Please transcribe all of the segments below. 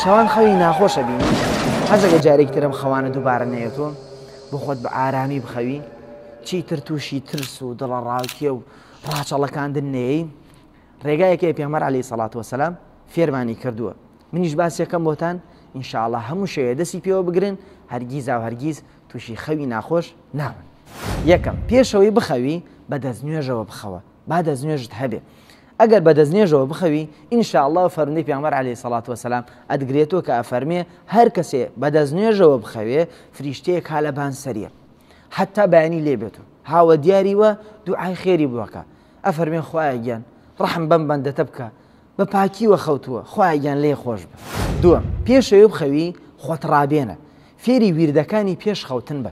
شەوان خەوی ناخۆش ئەبینی حەزە لە جارێکی تر ئەم خەوانە دووبارە نەیەتۆ بۆ خۆت بە ئارامی بخەوی چیتر تووشی ترس و دڵەڕاوکێ و ڕاچەڵەکاندن نەیەی ڕێگایەکەی پێمەر علی سەڵات وسلام فێرمانی کردووە منیش باسیەکەم بۆتان ئینشاءله هەموو شەیە دەستی پێوە بگرن هەرگیزا و هەرگیز تووشی خەوی ناخۆش ناون یەکەم پێشەوەی بخەوی بە دەست نوێژەوە بخەوە با دەست نوێژت هەبێ ئەگەر بە دەستنێژەوە بخەوی ان شاء اللە فەرمودەی پێغەمبەر علیە سەڵات وسلام ئەتگرێتەوە کە ئەفەرمێ هەر کەسێ بە دەستنێژەوە بخەوێ فریشتەیەک ها لە بان سەریە حتا بەیانی لێ بێت و هاوە دیاری وە دوعای خێری بووەکە ئەفەرمێ خوایە گیان ڕحم بەم بەندەتە بکە بە پاکی وە خەوتووە خوایە گیان لێ خۆش بە دووە پێشەوە بخەوی خۆت ڕابێنە فێری ویردەکانی پێش خەوتن بە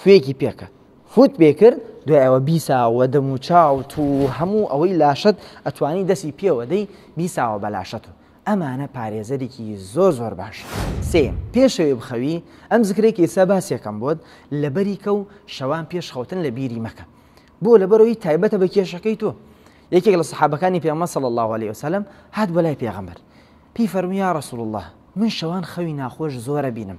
فوێکی پێکرد فوت پێ کرد دوای ئەوە بیساوە دەم و چاوت و هەموو ئەوەی لاشت ئەتوانی دەسی پێوە دەی بیساوە بە لاشەت و ئەمانە پارێزەرێکی زۆر زۆر باش سێم پێشەوێ بخەوی ئەم زکرێکی ئێستا باسیەکەم بۆت لەبەری کە و شەوان پێش خەوتن لە بیری مەکە بۆ لەبەرەوەی تایبەتە بە کێشەکەی تۆ یەکێک لە سەحابەکانی پێمە سەڵ الله عليه وسلم هات بەلای پێغەمبەر پێی فەرمویا رسول الله من شەوان خەوی ناخۆش زۆرە بینم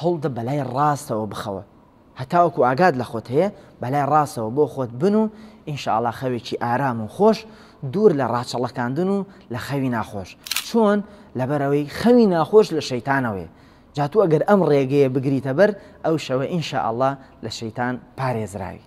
هەوڵدە بەلای ڕاستەوە بخەوە هەتاوەکو ئاگات لە خۆت هەیە بەلای ڕاستەوە بۆ خۆت بن و ان شاء اللە خەوێکی ئارام و خۆش دوور لە ڕاچەڵەکاندن و لە خەوی ناخۆش چۆن لەبەرەوەی خەوی ناخۆش لە شەیتانەوەی جاتوو ئەگەر ئەم ڕێگەیە بگریتە بەر ئەو شەوە ان شاء اللە لە شەیتان پارێزراوی.